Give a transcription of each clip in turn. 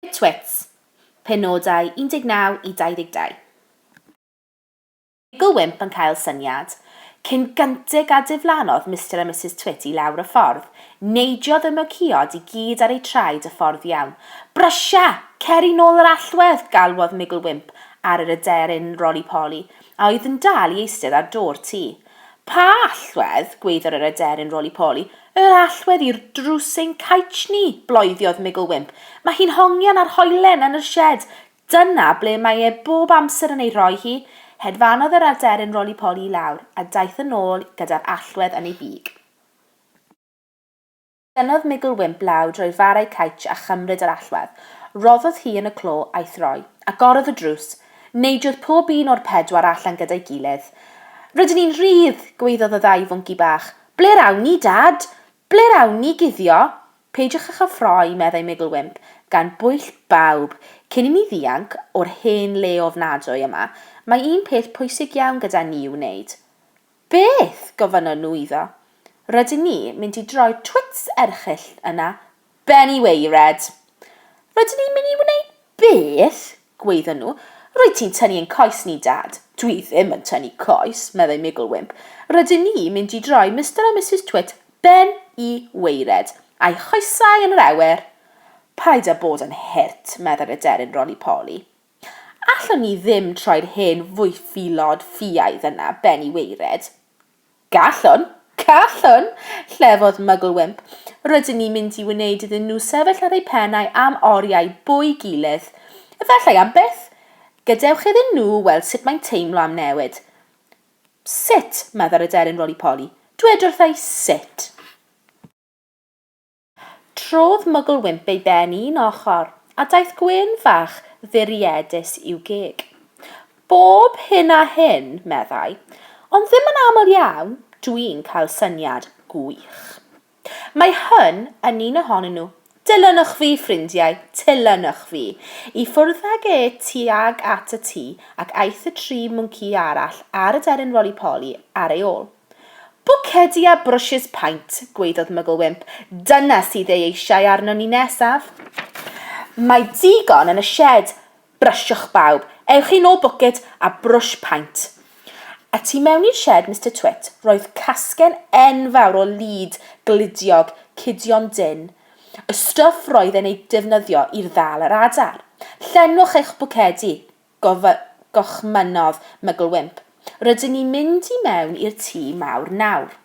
Twits, penodau 19 i 22. Michael Wimp yn cael syniad. Cyn gyntig a diflannodd Mister a Misus Twit i lawr y ffordd, neidiodd y myciod i gyd ar eu traed y ffordd iawn. Brysia! Cer i nôl yr allwedd! galwodd Michael Wimp ar yr aderyn Roly-Poly, a oedd yn dal i eistedd ar do'r tŷ. Pa allwedd? gwaeddodd yr aderyn Roly-Poly. Yr allwedd i'r drws ein caets ni! bloediodd Migl Wimp. Mae hi'n hongian ar hoelen yn yr sied. Dyna ble mae e bob amser yn ei rhoi hi. Hedfanodd yr aderyn roli-poli i lawr, a daeth yn ôl gyda'r allwedd yn ei big. Tynnodd Migl Wimp law drwy'r farau caets a chymryd yr allwedd. Roddodd hi yn y clo a'i throi. Agorodd y drws. Neidiodd pob un o'r pedwar allan gyda'i gilydd. Rydyn ni'n rhydd! gwaeddodd y ddau fwnci bach. Ble'r awn ni, Dad? Ble'r awn ni guddio? Peidiwch â chael ffroi, meddai Migl Wymp, gan bwyll bawb, cyn i ni ddianc o'r hen le ofnadwy yma, mae un peth pwysig iawn gyda ni i'w wneud. Beth? gofynnon nhw iddo. Rydyn ni mynd i droi twits erchyll yna, Benny waered. Rydyn ni'n mynd i wneud beth? gwaedden nhw. Rwyt ti'n tynnu ein coes ni, Dad. Dwi ddim yn tynnu coes, meddai Migl Wimp. Rydyn ni'n mynd i droi Mister a Misus Twit ben i waered, a'u choesau yn yr awyr. Paid â bod yn hurt, meddai'r aderyn Roli Poli. Allwn ni ddim troi'r hen fwyfilod ffiaidd yna ben i waered. Gallwn! Gallwn! llefodd Mygl Wymp. Rydyn ni'n mynd i wneud iddyn nhw sefyll ar eu pennau am oriau bwy gilydd. Efallai am byth! Gadewch iddyn nhw weld sut mae'n teimlo am newid. Sut? meddai'r aderyn Roly-Poly. Dwed wrtha i sut! Trodd Mugglewymp ei ben un ochr, a daeth gwên fach fwriedus i'w geg. Bob hyn a hyn, meddai, ond ddim yn aml iawn, dwi'n cael syniad gwych. Mae hyn yn un ohonyn nhw. Dilynwch fi, ffrindiau, tilynwch fi! I ffwrdd ag e tuag at y tŷ, ac aeth y tri mwnci arall a'r aderyn Roli Poli ar ei ôl. Pocedi a brwshys paent, gwaeddodd Mygl Wymp. Dyna sydd ei eisiau arnon ni nesaf. Mae digon yn y sied. Brysiwch bawb. Ewch i nôl bwced a brwsh paent. A tu mewn i'r sied, Mister Twit, roedd casgen enfawr o lid gludiog Cudion Dyn, y stwff roedd e'n ei defnyddio i'r ddal yr adar. Llenwch eich bwcedi. gochmynnodd Mygl Wymp. Rydyn ni'n mynd i mewn i'r tŷ mawr nawr.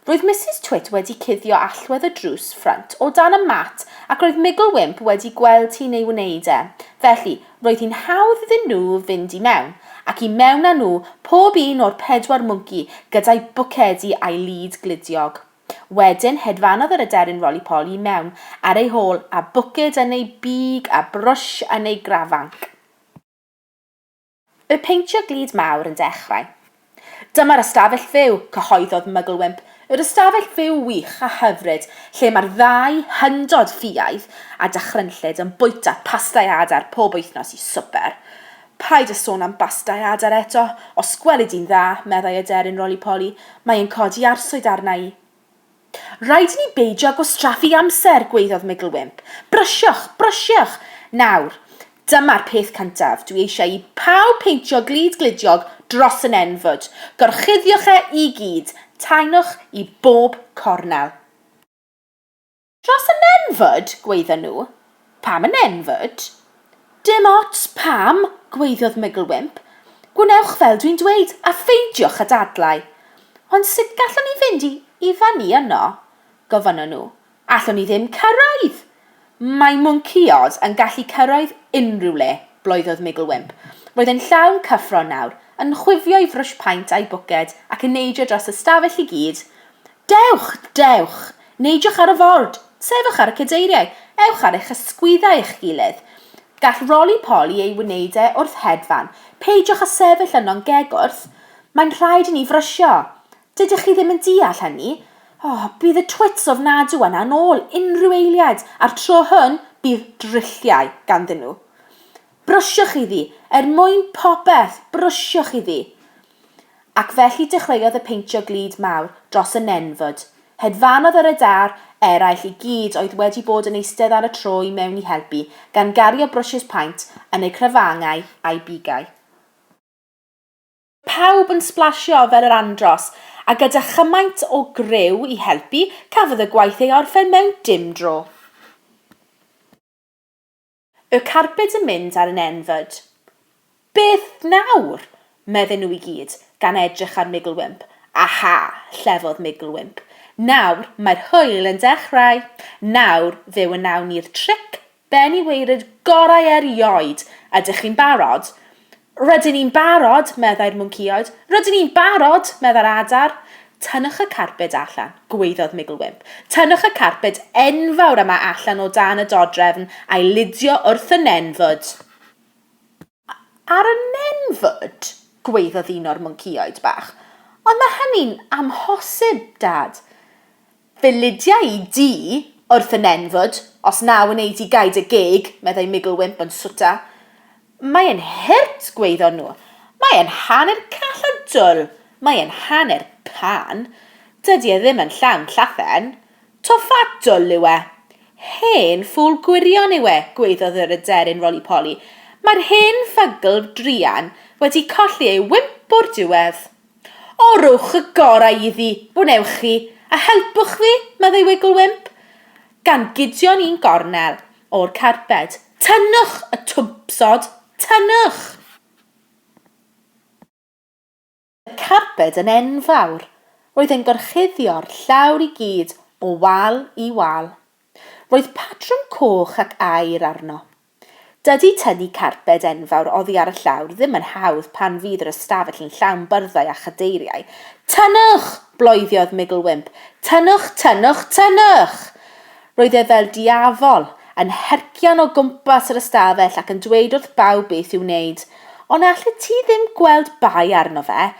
Roedd Misus Twit wedi cuddio allwedd y drws ffrynt o dan y mat ac roedd Mygl Wymp wedi gweld hi'n ei wneud e, felly, roedd hi'n hawdd iddyn nhw fynd i mewn, ac i mewn â nhw, pob un o'r pedwar mwnci, gyda'i bwcedi a'i lid gludiog. Wedyn, hedfanodd yr aderyn roli-poli i mewn ar ei hôl, a bwced yn ei big a brwsh yn ei grafanc. Bu peintio glud mawr yn dechrau. Dyma'r ystafell fyw, cyhoeddodd Mugglewymp, yr ystafell fyw wych a hyfryd lle mae'r ddau hyndod ffiaidd a dychrynllyd yn bwyta pasta i adar pob wythnos i swper. Paid â sôn am bastau adar eto, os gweli di'n dda, meddai aderyn Roly-Poly, mae e'n codi arswyd arna i. Rhaid i ni beidio gwastraffu amser, gwaeddodd Migglewymp. Brysiwch, brysiwch! Nawr, dyma'r peth cyntaf, dwi eisiau i pawb peintio glud gludiog dros y nenfwd. Gorchuddiwch e i gyd, taenwch i bob cornel. Dros y nenfwd, gwaedda nhw. Pam y nenfwd? Dim ots pam, gwaeddiodd Mygl Wymp. Gwnewch fel dwi'n dweud, a ffeindiwch y dadlau. Ond sut gallwn ni fynd i i fyny yno? gofynnon nhw. Allwn ni ddim cyrraedd! Mae mwncïod yn gallu cyrraedd unrhyw le, bloeddodd Mygl Wymp. Roedd e'n llawn cyffro nawr, yn chwifio ei frwsh paent a'i bwced ac yn neidio dros y stafell i gyd, Dewch! Dewch! Neidiwch ar y ford! Sefwch ar y cadeiriau! Ewch ar eich ysgwyddau eich gilydd! Gall Roli Poli ei wneud e wrth hedfan. Peidiwch â sefyll yno'n gegwrth! Mae'n rhaid i ni frysio! Dydych chi ddim yn deall hynny? O, bydd y twits ofnadw yna yn ôl unrhyw eiliad, a'r tro hwn, bydd drilliau ganddyn nhw. Brwsiwch iddi! Er mwyn popeth, brwsiwch iddi! Ac felly dechreuodd y peintio glud mawr dros y nenfwd. Hedfanodd yr adar eraill i gyd oedd wedi bod yn eistedd ar y tro i mewn i helpu, gan gario brwshys paent yn eu crafangau a'u bigau. Pawb yn sblasio fel yr andros, a gyda chymaint o griw i helpu, cafodd y gwaith ei orffen mewn dim dro. Y carbyd yn mynd ar 'n N-fyd. Beth nawr? medden nhw i gyd, gan edrych ar Migglewymp. Aha! llefodd Migglewymp. Nawr mae'r hwyl yn dechrau! Nawr fe wnawn ni'r tric ben i waered gorau erioed! Ydych chi'n barod? Rydyn ni'n barod, meddai'r mwncïaid. Rydyn ni'n barod! meddai'r adar. Tynnwch y carped allan, gwaeddodd Migl Wymp. Tynnwch y carped enfawr yma allan o dan y dodrefn a'i ludio wrth y nenfwd. A- ar y nenfwd? gwaeddodd un o'r mwncïaid bach. Ond mae hynny'n amhosib, Dad. Fe lydiai i di, wrth y nenfwd, os na wnei di gaed y gig, meddai Migl Wymp yn swta. Mae e'n hurt, gwaeddon nhw. Mae e'n hanner call a dwl. Mae e'n hanner pan. Dydy e ddim yn llawn llathen. Tofa dwl yw e. Hen ffŵl gwirion yw e, gwaeddodd yr aderyn Roli-Poli. Mae'r hen fygl druan wedi colli ei wymp o'r diwedd. O, rhowch y gorau iddi, wnewch chi, a helpwch fi, meddai Wiggle Wimp, gan gudio'n un gornel o'r carped. Tynnwch y twmpsod! Tynnwch! Roedd y carped yn enfawr. Roedd e'n gorchuddio'r llawr i gyd o wal i wal. Roedd patrwm coch ac aur arno. Dydy tynnu carped enfawr oddi ar y llawr ddim yn hawdd pan fydd yr ystafell yn llawn byrddau a chadeiriau. Tynnwch! bloeddodd Migl Wymp. Tynnwch, tynnwch, tynnwch! Roedd e fel diafol, yn hercian o gwmpas yr ystafell ac yn dweud wrth bawb beth i'w wneud. Ond allet ti ddim gweld bai arno fe?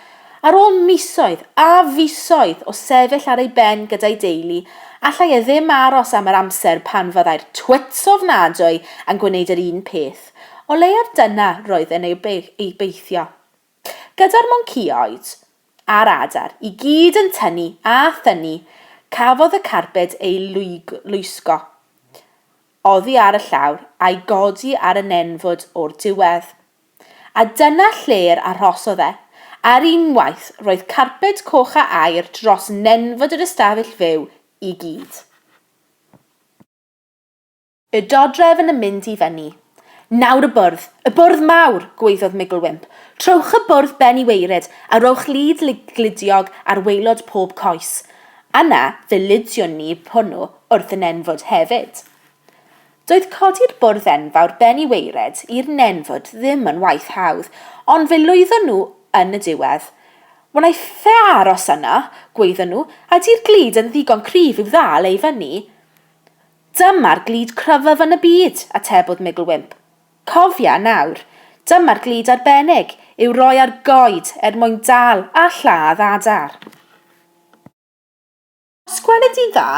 Ar ôl misoedd a fisoedd o sefyll ar ei ben gyda'i deulu, allai e ddim aros am yr amser pan fyddai'r twits ofnadwy yn gwneud yr un peth, o leiaf dyna roedd yn ei obeithio. Gyda'r moncïoed a'r adar i gyd yn tynnu a thynnu, cafodd y carbed ei lwysgo oddi ar y llawr a'i godi ar y nenfwd o'r diwedd. A dyna lle'r arhosodd e. Ar unwaith, roedd carped coch a aer dros nenfwd yr ystafell fyw i gyd. Y dodrefn yn mynd i fyny. Nawr y bwrdd! Y bwrdd mawr! gwaeddodd Migl Wymp. Trowch y bwrdd ben i waered, a rhowch lid gludiog ar waelod pob coes. Yna, fe ludiwn ni hwnnw wrth y nenfwd hefyd. Doedd codi'r bwrdd enfawr ben i waered i'r nenfwd ddim yn waith hawdd, ond fe lwyddon nhw yn y diwedd. Wnaiff-e aros yno, gwaeddon nhw, a 'di'r glud yn ddigon cryf i'w ddal e i fyny? Dyma'r glud cryfaf yn y byd, atebodd Migl Wymp. Cofia, nawr, dyma'r glud arbennig i'w roi ar goed er mwyn dal a lladd adar. Sgwenna di'n dda,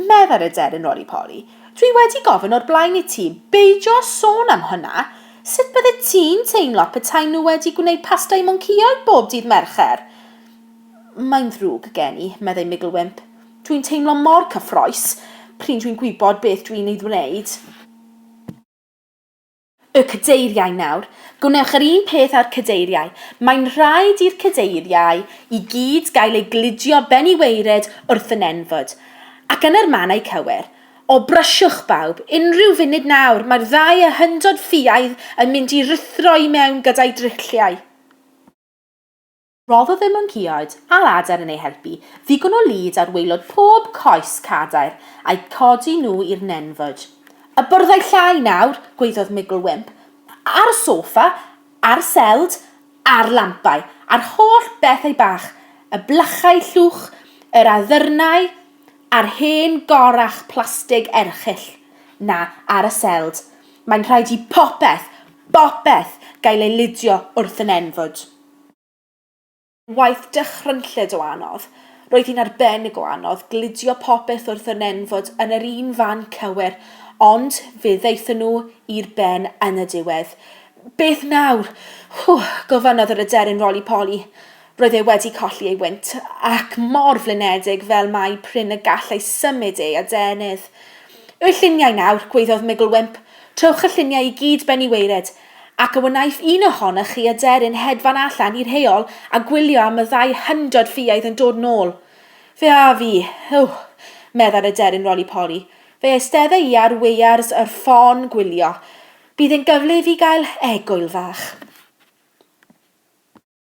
meddai'r aderyn Roly-Poly. Dwi wedi gofyn o'r blaen i ti beidio â sôn am hwnna! Sut byddet ti'n teimlo petai nhw wedi gwneud pasta i mwncaeoedd bob dydd Mercher? Mae'n ddrwg gen i, meddai Migl Wymp. Dwi'n teimlo mor cyffrous pryn dwi'n gwybod beth dwi'n ei ddwneud. Y Cadeiriau Nawr, gwnewch yr un peth â'r Cadeiriau. Mae'n rhaid i'r Cadeiriau i gyd gael eu gludio ben i waered wrth y nenfwd. Ac yna'r mannau cywir. O, brysiwch, bawb! Unrhyw funud nawr, mae'r ddau a hyndod ffiaidd yn mynd i ruthro i mewn gyda'i drilliau. Rhoddodd y mwnceaid a lader yn eu helpu ddigon o lid ar waelod pob coes cadair a'u codi nhw i'r nenfwd. Y byrddau llai nawr, gwaeddodd Migl Wymp, ar y soffa, a'r seld, a'r lampau, a'r holl bethau bach, y blychau llwch, yr addyrnau, a'r hen gorach plastig erchyll 'na ar y seld, mae'n rhaid i bopeth, bopeth gael ei lidio wrth y nenfwd. Waith dychrynllyd o anodd. Roedd hi'n arbennig o anodd gludio popeth wrth y nen fod yn yr un fan cywir, ond fe ddaethon nhw i'r ben yn y diwedd. Beth nawr? Whew! gofynnodd yr aderyn Roli Poli. Roedd e wedi colli ei wynt, ac mor flinedig fel mai prin y gallai symud ei adenydd. Yw'r lluniau nawr? gwaeddodd Migl Wymp. Trowch y lluniau i gyd ben i waered. Ac a wnaiff un ohonoch chi aderyn hedfan allan i'r heol a gwylio am y ddau hyndod ffiaidd yn dod nôl? Fe a fi! Eww! meddai'r aderyn roli-poli. Fe eisteddai i ar weiars yr ffôn gwylio. Bydd e'n gyfle i fi gael egwyl fach.